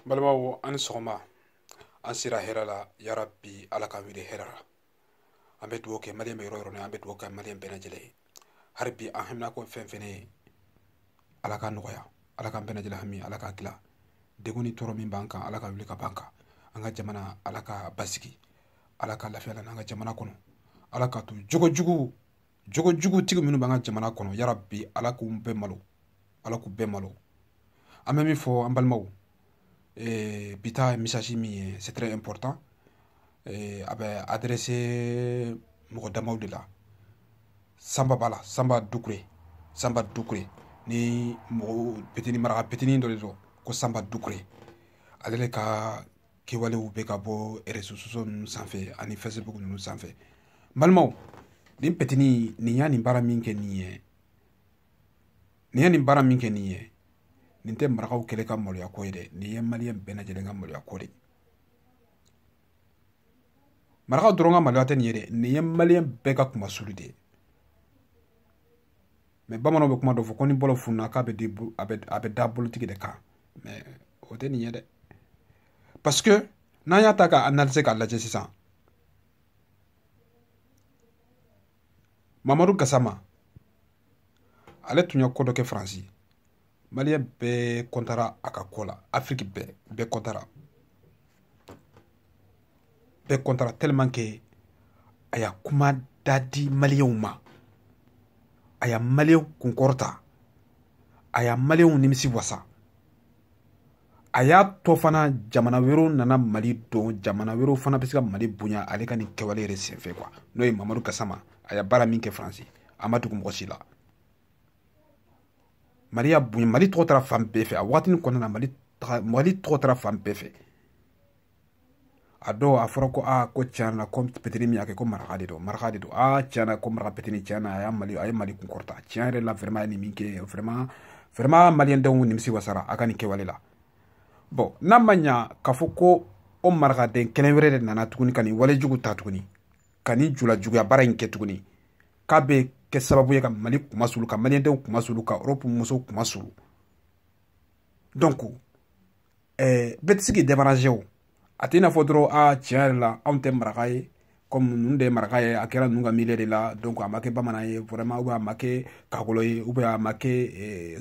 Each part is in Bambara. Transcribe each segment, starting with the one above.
balimaw aw ni sɔgɔma an sira hɛrɛ la yarabi ala k'an wuli hɛrɛ la an bɛ dugawu kɛ maliyɛn bɛ yɔrɔ o yɔrɔ la an bɛ dugawu kɛ maliyɛn bɛɛ lajɛlen ye hali bi an haminanko fɛn o fɛn ye ala k'a nɔgɔya ala k'an bɛɛ lajɛlen hami ala k'a dilan degun ni tɔɔrɔ min b'an kan ala k'a wuli ka b'an kan an ka jamana ala k'a basigi ala ka lafiya lana an ka jamana kɔnɔ ala ka to jogo jugu jogo jugutigi minnu b'an ka jamana kɔnɔ yara bi ala k'u bɛɛ malo ala k'u bɛɛ malo an bɛ min fɔ an balimaw eh, bi ta message min ye c'est très important eh, a bɛ adresser mɔgɔ damaw de la sanba b'a la sanba dukure sanba dukure ni mɔgɔ petini maraka petini dɔ de don ko sanba dukure ale de ka kɛwalew bɛ ka bɔ réseaux sociaux ninnu sanfɛ ani facebook ninnu sanfɛ balimaw nin petini nin ye nin baara min kɛ nin ye nin ye nin baara min kɛ nin ye nin tɛ marakaw kelen ka maloya ko ye dɛ nin ye maliyɛn bɛɛ lajɛlen ka maloya ko de marakaw dɔrɔn ka maloya tɛ nin ye dɛ nin ye maliyɛn bɛɛ ka kunmasuli de ye mais bamananw bɛ kuma dɔ fɔ ko ni bolo fununa k'a bɛ a bɛ da bolotigi de kan mais o tɛ nin ye dɛ parce que n'an y'a ta ka analyser k'a lajɛ sisan mamadu gasama ale tun ye ko dɔ kɛ faransi maliyɛn bɛɛ kɔntara a ka ko la afiriki bɛɛ bɛɛ kɔntara bɛɛ kɔntara tellement que a y'a kuma da di maliyɛnw ma a y'a maliyɛnw kunkɔrɔta a y'a maliyɛnw nimisiwasa a y'a to fana jamana wɛrɛw nana mali dɔn jamana wɛrɛw fana bɛ se ka mali bonya ale ka nin kɛwale yɛrɛ senfɛ quoi n'o ye mamadu gasama a y'a baara min kɛ faransi a ma dogo mɔgɔ si la mali y'a bonya mali tɔgɔ taara fan bɛɛ fɛ a wagatinin kɔnɔna na mali mali tɔgɔ taara fan bɛɛ fɛ a dɔw a fɔra ko a ko tiɲɛ na ko petini min y'a kɛ ko maraka de don maraka de don a tiɲɛ na ko maraka petini tiɲɛ na a y'a mali a ye mali kunkɔrɔta tiɲɛ yɛrɛ la vraiment a ye nin min kɛ vraiment vraiment maliyɛn denw nimisiwasara a ka nin kɛwale la bon n'a ma ɲa k'a fɔ ko o marakaden kelen wɛrɛ de nana tuguni ka nin wale jugu ta tuguni ka nin jula juguya baara in kɛ tuguni k'a bɛ kɛ sababu ye ka mali kunmasuli ka maliyɛndenw kunmasuli ka europe musow kunmasuli donc ɛɛ bɛɛ tɛ se k'i débarrasser o a tɛ i n'a fɔ dɔrɔn a tiɲɛ yɛrɛ la anw tɛ maraka ye kɔmi ninnu de ye maraka ye a kɛra ninnu ka miiriya de la donc a ma kɛ bamanan ye vraiment ou bien a ma kɛ kakolo ye ou bien a ma kɛ eh,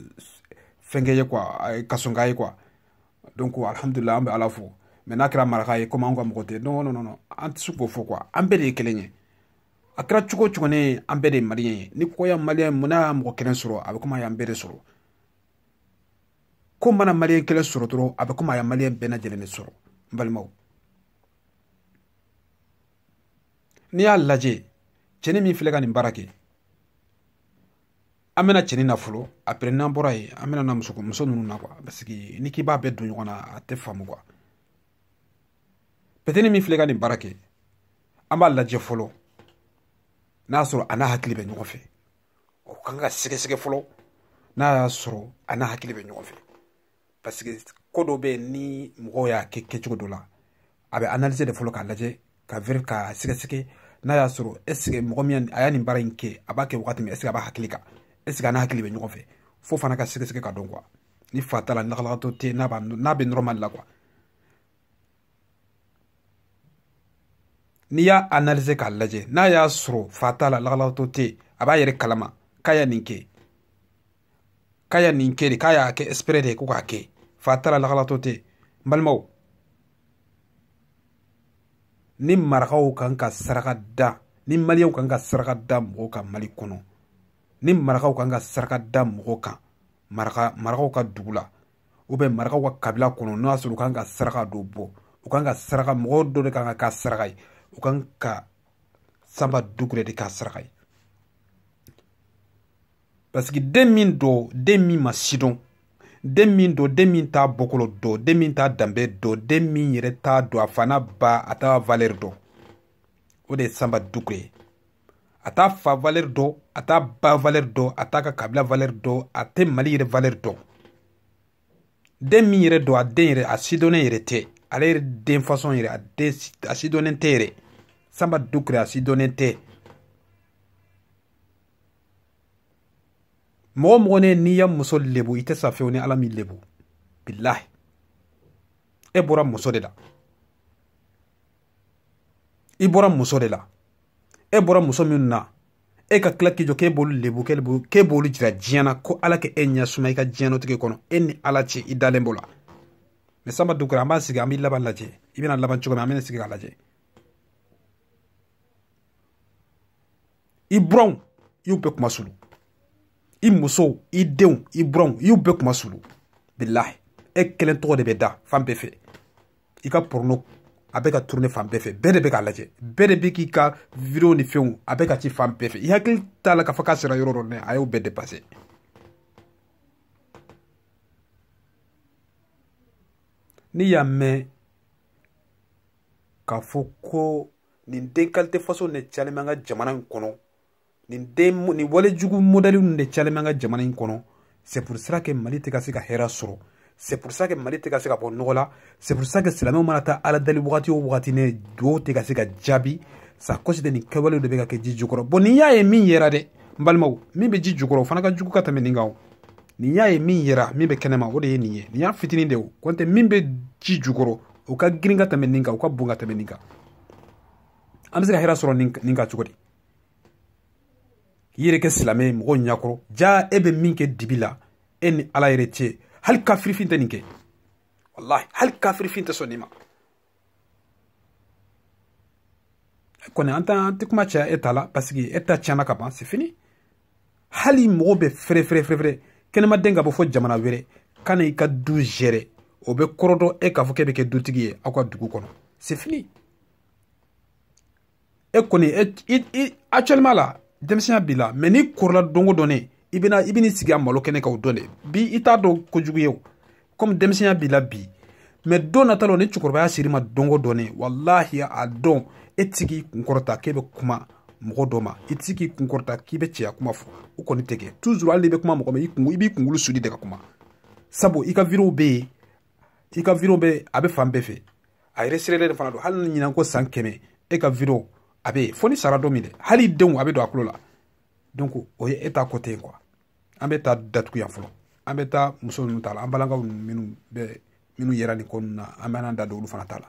fɛnkɛ ye quoi eh, kasonka ye quoi donc alhamdulila an bɛ ala fo mais n'a kɛra maraka ye komi anw ka mɔgɔ tɛ non non non an tɛ se k'o fɔ quoi an bɛɛ de ye kelen ye a kɛra cogo o cogo ne an bɛɛ de ye maliyɛn ye ni ko ya maliyɛn mun n'a y'a mɔgɔ kelen sɔrɔ a bɛ komi a y'an bɛɛ de sɔrɔ ko mana maliyɛn kelen sɔrɔ dɔrɔn a bɛ komi a ye maliyɛn bɛɛ lajɛlen de sɔrɔ n balimaw n'i y'a lajɛ cɛni min filɛ ka nin baara kɛ an bɛna cɛni na fɔlɔ après n'an bɔra yen an bɛna na muso muso ninnu na quoi parce que n'i k'i b'a bɛɛ don ɲɔgɔn na a tɛ faamu quoi petini min filɛ ka nin baara kɛ an b'a lajɛ fɔlɔ n'a sɔrɔ a n'a hakili bɛ ɲɔgɔn fɛ o kan ka sɛgɛsɛgɛ fɔlɔ n'a y'a sɔrɔ a n'a hakili bɛ ɲɔgɔn fɛ parce que ko dɔ bɛ yen ni mɔgɔ y'a kɛ kɛcogo dɔ la a bɛ analyser de fɔlɔ k'a lajɛ ka veri k'a sɛgɛsɛgɛ n'a y'a sɔrɔ est ce que mɔgɔ min a y'a nin baara in kɛ a b'a kɛ wagati min est ce que a b'a hakili kan est ce que a n'a hakili bɛ ɲɔgɔn fɛ fo fana ka sɛgɛsɛgɛ ka dɔn quoi ni fa t'a la lagalagatɔ tɛ n'a bɛ normal la quoi n'i y'a analyser k'a lajɛ n'a y'a sɔrɔ fa t'a la lagalagatɔ tɛ yen a b'a yɛrɛ kalama k'a ya nin kɛ k'a ya nin kɛ de k'a y'a kɛ exprès de ye ko k'a kɛ fa t'a la lagalagatɔ tɛ yen n balimaw ni marakaw kan ka saraka da ni maliyɛnw kan ka saraka da mɔgɔ kan mali kɔnɔ ni marakaw kan ka saraka da mɔgɔ kan maraka marakaw ka dugu la ou bien marakaw ka kabila kɔnɔ n'o y'a sɔrɔ u kan ka saraka dɔ bɔ u kan ka saraka mɔgɔ dɔ de kan ka kɛ saraka ye u kan ka sanba dukure de kɛ saraka ye parce que den min don den min ma sidɔn den min don den min t'a bɔkolo dɔn den min t'a danbe dɔn den min yɛrɛ t'a dɔn a fa n'a ba a t'a valeur dɔn o de ye sanba dukure ye a t'a fa valeur dɔn a t'a ba valeur dɔn a t'a ka kabila valeur dɔn a tɛ mali yɛrɛ valeur dɔn den min yɛrɛ don a den yɛrɛ a sidɔnnen yɛrɛ tɛ ale yɛrɛ den façon yɛrɛ a den a sidɔnnen tɛ yɛrɛ sanba dukure a sidɔnnen tɛ mɔgɔ o mɔgɔ ne n'i ya muso lebu i tɛ sa fewu ni ala m'i lebu bilahi e bɔra muso de la i bɔra muso de la e bɔra muso minnu na e ka tila k'i jɔ k'e b'olu lebu k'e b'olu jira diɲɛ na ko ala ka e ɲɛ suma i ka diɲɛnatigɛ kɔnɔ e ni ala cɛ i dalen b'o la mɛ sanba dukura an b'a sigi an b'i laban lajɛ i bɛna laban cogo min an bɛna sigi k'a lajɛ i buranw i y'u bɛɛ kunmasuli i musow i denw i buranw i y'u bɛɛ kunmasuli bilahi e kelen tɔgɔ de bɛ da fan bɛɛ fɛ i ka porno a bɛ ka tourne fan bɛɛ fɛ bɛɛ de bɛ k'a lajɛ bɛɛ de bɛ k'i ka video ni fɛnw a bɛ ka ci fan bɛɛ fɛ i hakili t'a la k'a fɔ k'a sera yɔrɔ dɔ nɛ a y'o bɛɛ depase n'i y'a mɛn k'a fɔ ko nin den kalite fasɔn ne calen bɛ an ka jamana in kɔnɔ nin den nin wale jugu modɛli ninnu de calen bɛ an ka jamana in kɔnɔ c'est pour ça que mali tɛ ka se ka hɛrɛ sɔrɔ c'est pour ça que mali tɛ ka se ka bɔ nɔgɔ la c'est pour ça que silamɛw mana taa ala dali wagati o wagati ne duwawu tɛ ka se ka jaabi c'est à cause de nin kɛwalew de bɛ ka kɛ ji jukɔrɔ bɔn nin y'a ye min yera dɛ n balimaw min bɛ ji jukɔrɔ o fana ka jugu ka tɛmɛ nin kan o nin y'a ye min yera min bɛ kɛnɛma o de ye nin ye nin y'a fitinin de o kɔntɛ min bɛ ji jukɔrɔ o ka girin ka tɛmɛ nin kan o ka bon ka tɛmɛ nin kan an bɛ se ka hɛrɛ sɔrɔ nin kan cogo di k'i yɛrɛ kɛ silamɛ ye mɔgɔw ɲakɔrɔ jaa e bɛ min kɛ dibi la e ni ala yɛrɛ cɛ hali kafirifin tɛ nin kɛ walahi hali kafirifin tɛ sɔn nin ma kɔni an tɛ an tɛ kuma caya e ta la parce que e ta tiɲɛna ka ban c'est fini hali mɔgɔ bɛ préférer kɛnɛmaden ka bɔ fɔ jamana wɛrɛ ka na i ka du gérer o bɛ kɔrɔ dɔn e k'a fɔ k'e bɛ kɛ dutigi ye aw ka dugu kɔnɔ c'est fini e kɔni e actuellement la denmisɛnya b'i la mɛ n'i kɔrɔla don o don ne i bɛna i bɛn'i sigi a malo kɛnɛ kan o don de bi i t'a dɔn kojugu ye o komi denmisɛnya b'i la bi mɛ don nata la ni cɛkɔrɔbaya ser'i ma don o don ne walahi a don e tɛ se k'i kunkɔrɔta k'e bɛ kuma mɔgɔ dɔ ma i tɛ se k'i kunkɔrɔta k'i bɛ cɛya kuma fɔ o kɔni tɛ kɛ toujours hali n'i bɛ kuma mɔgɔ ma i b'i kunkolo suli de ka kuma sabu i ka video bɛ yen i ka video bɛ a bɛ fan bɛɛ fɛ a yɛrɛ serelen de fana don hali ni ɲinan kɔ san kɛmɛ e ka video a bɛ fo n'i sara don min dɛ hal'i denw a bɛ don u tulo la donc o ye e ta ko tɛ yen quoi an b'e ta datugu yan fɔlɔ an bɛ taa muso ninnu ta la an balakaw ninnu minnu bɛ minnu yera nin ko ninnu na an bɛ an da don olu fana ta la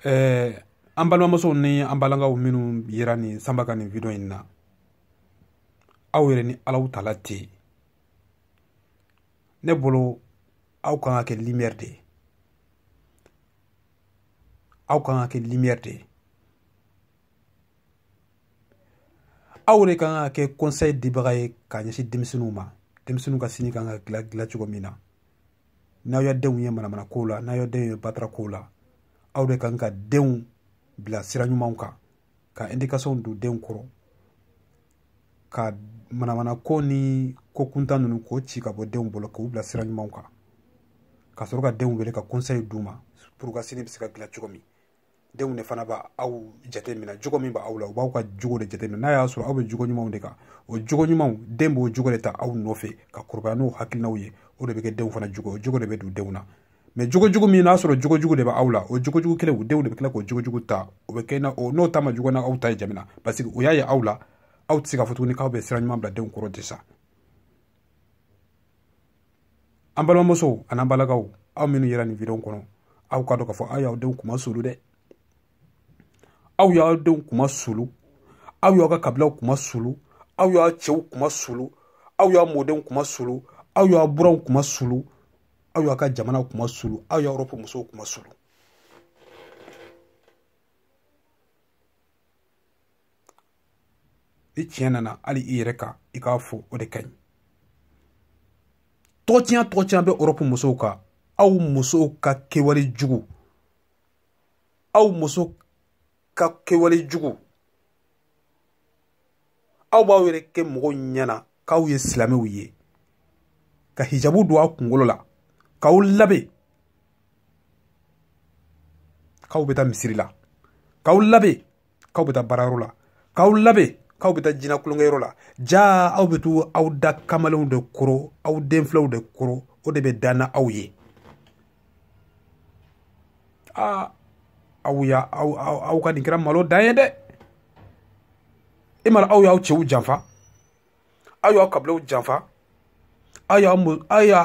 ɛɛ an balimamusow ni an balakaw minnu yera nin sanba ka nin video in na aw yɛrɛ ni alaw tala tɛ yen ne bolo aw kan ka kɛ limɛri de ye aw kan ka kɛ limɛri de ye aw de kan ka kɛ kɔnsɛyi dibaga ye ka ɲɛsin denmisɛnninw ma denmisɛnninw ka sini kan ka dilan dilan cogo min na n'aw ya denw ye manamana kow la n'aw ya denw ye batara kow la aw de kan ka denw bila sira ɲumanw kan ka edikasɔn don denw kɔrɔ ka manamana ko ni ko kuntan ninnu k'o ci ka bɔ denw bolo k'u bila sira ɲumanw kan ka sɔrɔ ka denw wele ka kɔnsɛyi d'u ma puru u ka sini bɛ se ka dilan cogo min denw de fana b'aw jate minɛ jogo min b'aw la u b'aw ka jogo de jate minɛ n'a y'a sɔrɔ aw bɛ jogo ɲumanw de kan o jogo ɲumanw den b'o jogo de ta aw nɔfɛ ka kɔrɔbaya n'o hakilinaw ye o de bɛ kɛ denw fana jogo o jogo de bɛ don denw na mɛ jogojugu min n'a sɔrɔ jogojugu de bɛ aw la o jogojugu kelen u denw de bɛ tila k'o jogojugu ta o bɛ kɛ n'o ta ma jugu ni aw ta ye jamana parce que o y'a ye aw la aw tɛ se ka fɔ tuguni k'aw bɛ sira ɲuman bila denw kɔrɔ tɛ sa an balimamusow an'an balimakɛw aw minnu yera nin videon kɔnɔ aw k'a dɔn k'a fɔ aw y'aw denw kunmasulu dɛ aw y'aw denw kunmasulu aw y'aw ka kabilaw kunmasulu aw y'aw cɛw kunmasulu aw y'aw mɔdenw kunmasulu aw y'aw buranw kunmasulu aw y'aw ka jamana kunmasulu aw y'aw erɔpu musow kunmasulu ni tiɲɛ nana hali i yɛrɛ kan i k'a fɔ o de ka ɲi tɔgɔtiɲa tɔgɔtiɲa bɛ erɔpu musow kan aw musow ka kewale jugu aw muso ka kewale jugu aw b'aw yɛrɛ kɛ mɔgɔw ɲɛna k'aw ye silamɛw ye ka hijabu don aw kunkolo la k'aw labɛn k'aw bɛ taa misiri la k'aw labɛn k'aw bɛ taa baarayɔrɔ la k'aw labɛn k'aw bɛ taa jinɛ tulonkɛyɔrɔ la jaa aw bɛ taa aw da kamalenw de kɔrɔ aw den filanw de kɔrɔ o de bɛ da n'aw ye aa aw ya aw aw aw ka nin kɛra malo dan ye dɛ e mana aw y'aw cɛw janfa aw y'aw kabilaw janfa aw y'aw aw y'a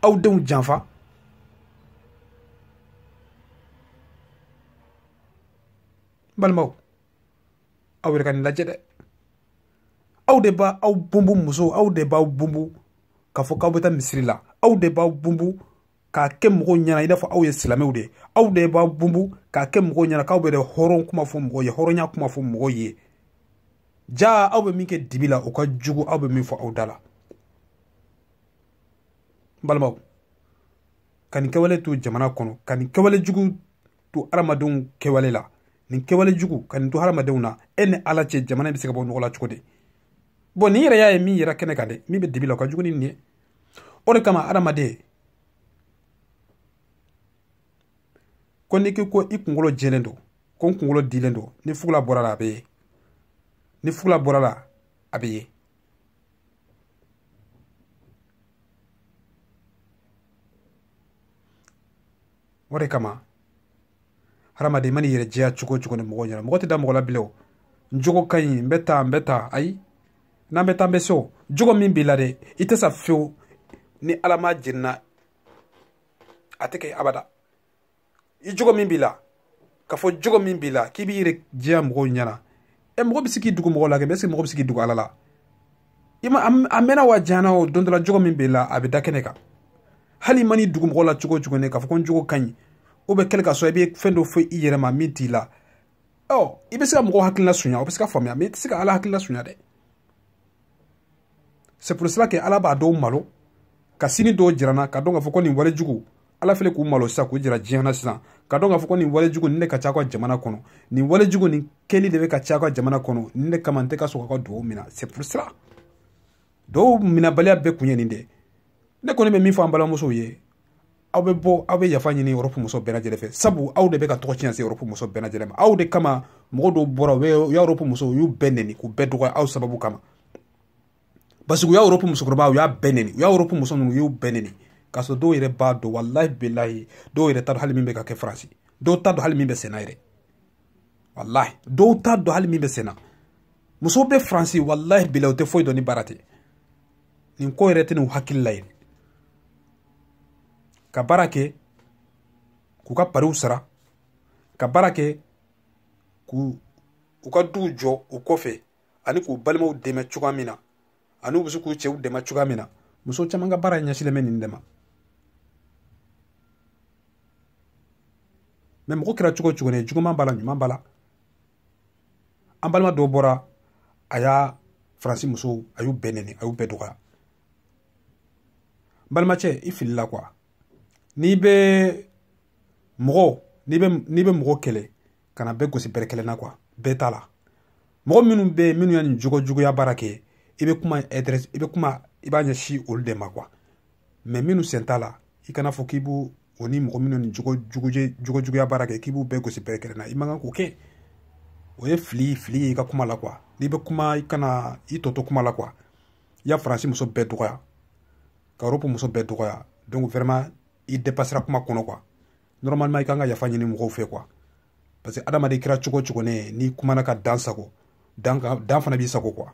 aw denw janfa n balimaw aw yɛrɛ ka nin lajɛ dɛ aw de b'aw bunbu musow aw de b'aw bunbu k'a fɔ k'aw bɛ taa misiri la aw de b'aw bunbu k'a kɛ mɔgɔw ɲɛna i n'a fɔ aw ye silamɛw de ye aw de b'a bunbu k'a kɛ mɔgɔw ɲɛna k'aw bɛ dɛ hɔrɔn kuma fɔ mɔgɔw ye hɔrɔnya kuma fɔ mɔgɔw ye ja aw bɛ min kɛ dibi la o ka jugu aw bɛ min fɔ aw da la n balimaw ka nin kɛwale to jamana kɔnɔ ka nin kɛwale jugu to hadamadenw kɛwale la nin kɛwale jugu ka nin to hadamadenw na e ni ala cɛ jamana bɛ se ka bɔ nɔgɔ la cogo di bon nin yɛrɛ y'a ye min yera kɛnɛ kan dɛ min bɛ dibi la o ka jugu ni nin ye o de kama adamaden ko n'i k'i ko i kunkolo jɛlen don ko n kunkolo dilen don ni fugula bɔra a la a bɛ ye ni fugula bɔra a la a bɛ ye o de kama hadamaden i mana i yɛrɛ jɛya cogo cogo ni mɔgɔ ɲɛna mɔgɔ tɛ da mɔgɔ la bilen o n jogo ka ɲi n bɛ taa n bɛ taa ayi n'an bɛ taa n bɛ se o jogo min b'i la dɛ i tɛ sa fewu ni ala m'a jira an na a tɛ kɛ abada i jogo min b'i la k'a fɔ jogo min b'i la k'i b'i yɛrɛ jɛya mɔgɔw ɲɛna ɛ mɔgɔ bɛ se k'i dugu mɔgɔ la kɛ mais est-ce que mɔgɔ bɛ se k'i dugu ala la i ma a mɛnna wa jana o don dɔ la jogo min b'i la a bɛ da kɛnɛ kan hali i mana i dugu mɔgɔ la cogo cogo ne k'a fɔ ko n jogo ka ɲi o bɛ kɛlɛ ka sɔrɔ i bɛ fɛn dɔ fɔ i yɛrɛ ma min t'i la ɔ i bɛ se ka mɔgɔw hakilila sunya o bɛ se ka faamuya mais i tɛ se ka ala hakilila sunya dɛ c'est pour cela que ala bɛ dɔw malo ka sini dɔw jira an na ka dɔn k'a fɔ ko nin wale jugu ala fɛnɛ k'u malo sisan k'u jira diɲɛ na sisan ka dɔn k'a fɔ ko nin wale jugu nin de ka ca an ka jamana kɔnɔ nin wale jugu nin kɛli de bɛ ka caya an ka jamana kɔnɔ nin de kama n tɛ ka sɔn ka dugawu mina c'est pour cela dugawu minabaliya bɛɛ kun ye nin de ne kɔni bɛ min fɔ an balimamusow ye aw bɛ bɔ aw bɛ yafa ɲini erɔpu muso bɛɛ lajɛlen fɛ sabu aw de bɛ ka tɔgɔ tiɲɛ se erɔpu muso bɛɛ lajɛlen ma aw de kama mɔgɔ dɔw bɔra u ye erɔpu muso u y'u bɛɛ neni k'u bɛɛ dɔgɔya aw sababu kama parce que u ye erɔpu musokɔrɔba u y'a bɛɛ neni u ye erɔpu muso ninnu u y'u bɛɛ neni k'a sɔrɔ dɔw yɛrɛ b'a dɔn walahi bilahi dɔw yɛrɛ t'a dɔn hali min bɛ ka kɛ faransi dɔw t'a dɔn hali min bɛ senna yɛrɛ walahi dɔw t'a dɔn hali min bɛ senna musow bɛ faransi walahi bilahi u tɛ foyi dɔn ni baara tɛ nin ko yɛrɛ t'u hakili la yen ka baara kɛ k'u ka pariw sara ka baara kɛ k'u u ka duw jɔ u kɔfɛ ani k'u balimaw dɛmɛ cogoya min na ani u bɛ se k'u cɛw dɛmɛ cogoya min na muso caman ka baara ɲɛsilen bɛ nin de ma mais mɔgɔ kɛra cogo cogo ne juguman b'a la ɲuman b'a la an balima dɔw bɔra a ye faransi musow a y'u bɛɛ neni a y'u bɛɛ dɔgɔya balimacɛ i filila quoi n'i bɛ mɔgɔ n'i bɛ n'i bɛ mɔgɔ kɛlɛ kana bɛɛ gosi bere kelen na quoi bɛɛ t'a la mɔgɔ minnu bɛ yen minnu ye nin jogo juguya baara kɛ i bɛ kuma adresser i bɛ kuma i b'a ɲɛsin olu de ma quoi mais minnu sen t'a la i kan'a fɔ k'i b'u o ni mɔgɔ minnu nin jogo jugujɛ jogo juguya baara kɛ k'i b'u bɛɛ gosi bere kelen na i man kan k'o kɛ o ye fili fili ye i ka kuma la quoi n'i bɛ kuma i kan ka i tɔ to kuma la quoi i ye faransi muso bɛɛ dɔgɔya ka europe muso bɛɛ dɔgɔya donc vraiment i depasera kuma kɔnɔ quoi normalement i kan ka yafa ɲini mɔgɔw fɛ quoi parce que adamaden kɛra cogo cogo ne n'i kumana ka dan sagon dan fana b'i sagon quoi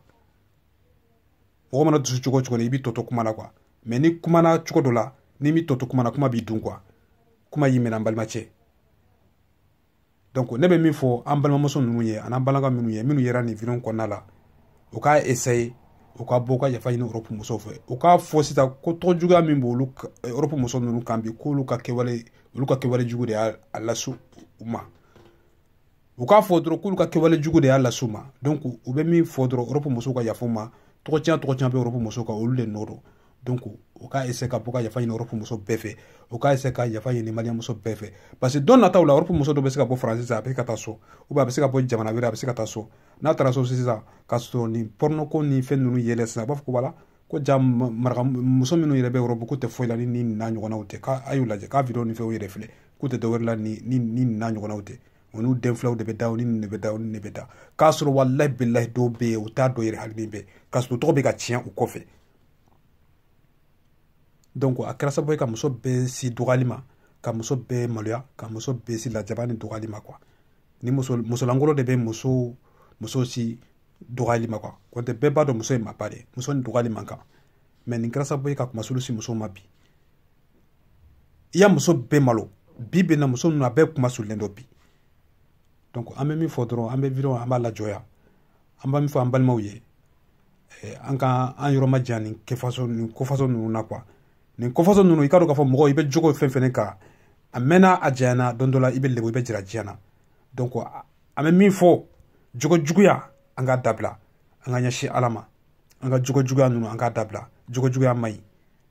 mɔgɔ mana dusu cogo cogo ne i b'i tɔ to kuma la quoi mais n'i kumana cogo dɔ la n'i m'i tɔ to kuma na kuma b'i dun quoi kuma y'i minɛ an balimacɛ donc ne bɛ min fɔ an balimamuso ninnu ye an'an balimakɛ minnu ye minnu yera nin video kɔnɔna la u k'a essayer u ka bɔ ka yafa ɲini europe musow fɛ u k'a fɔ sisan ko tɔgɔ juguya min bɛ olu europe muso ninnu kan bi k'olu ka kɛwale olu ka kɛwale jugu de y'a lase u ma u k'a fɔ dɔrɔn k'olu ka kɛwale jugu de y'a lase u ma donc u bɛ min fɔ dɔrɔn europe musow ka yafa u ma tɔgɔ tiɲɛ tɔgɔ tiɲɛ bɛ europe musow kan olu de nɔ don donc o k'a essayer ka bɔ ka yafa ɲini Europe muso bɛɛ fɛ o k'a essayer ka yafa ɲini Malien muso bɛɛ fɛ parce que don nataw la Europe muso dɔ bɛ se ka bɔ France sisan a bɛ ka taa so ou bien a bɛ se ka bɔ jamana wɛrɛ a bɛ se ka taa so n'a taara so sisan k'a sɔrɔ nin porno ko ni fɛn ninnu yɛlɛ sisan a b'a fɔ ko voilà ko jaa maraka muso minnu yɛrɛ bɛ Europe k'u tɛ foyi la ni nin n'a ɲɔgɔnnaw tɛ k'a a y'u lajɛ k'a video ni fɛnw yɛrɛ filɛ k'u tɛ dɔwɛrɛ la ni ni nin n'a ɲɔgɔnnaw tɛ o n'u den filaw de bɛ da o ni nin de bɛ da o ni nin de bɛ da k'a sɔrɔ walahi bilahi dɔw bɛ yen u t'a dɔn yɛrɛ hali min bɛ k'a sɔrɔ tɔgɔ bɛ ka tiɲɛ u kɔfɛ donc a kɛra sababu ye ka muso bɛɛ se dɔgɔyali ma ka muso bɛɛ maloya ka muso bɛɛ se lajaba ni dɔgɔyali ma quoi ni muso musolankolon de bɛ muso muso se dɔgɔyali ma quoi nɔntɛ bɛɛ b'a dɔn muso ye maaba de ye muso ni dɔgɔyali man kan mais nin kɛra sababu ye ka kunmasuuli se musow ma bi i ye muso bɛɛ malo bi bɛ na muso ninnu a bɛɛ kunma suulilen don bi donc an bɛ min fɔ dɔrɔn an bɛ video an b'a lajɔ yan an bɛ min fɔ an balimaw ye eh, an ka an yɔrɔ ma jan nin kɛ façon nin ko façon ninnu na quoi nin ko façon ninnu i k'a dɔn k'a fɔ mɔgɔ i bɛ jogo fɛn fɛn kan a mɛnna a janyana don dɔ la i bɛ lebu i bɛ jira diɲɛ na donc an bɛ min fɔ jogo juguya an k'a dabila an k'an ɲɛsin ala ma an ka jogo juguya ninnu an k'a dabila jogo juguya man ɲi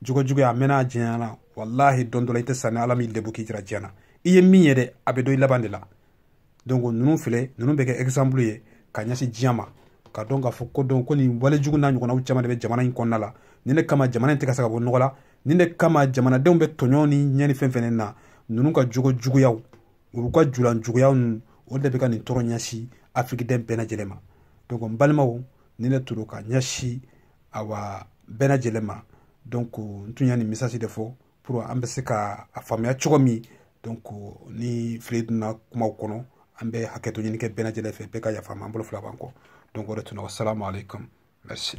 jogo juguya a mɛnna a janyana walahi don dɔ la i tɛ sa ni ala m'i lebu k'i jira diɲɛ na i ye min ye dɛ a bɛ dɔn i laban de la donc ninnu filɛ ninnu bɛ kɛ exemple ye ka ɲɛsin diɲɛ ma k'a dɔn k'a fɔ ko dɔn ko nin wale jugu n'a ɲɔgɔnnaw caman de bɛ jamana in kɔnɔna la nin de kama jamana in tɛ ka se ka bɔ nɔgɔ la nin de kama jamanadenw bɛ tɔɲɔw ni ɲɛni fɛn fɛn na ninnu ka jogo juguyaw olu ka julan juguyaw ninnu o de bɛ ka nin tɔɔrɔ ɲɛsin afirikiden bɛɛ lajɛlen ma donc n balimaw ni ne toro ka ɲɛsin aw bɛɛ lajɛlen ma donc n tun y'a nin message de fɔ pour an bɛ se ka a faamuya cogo min donc ni fili donna kumaw kɔnɔ an bɛ hakɛto ɲini kɛ bɛɛ lajɛlen fɛ bɛɛ ka yafa an ma an bolo fila b'an kɔ donc o de tun don wasalamu aleykum merci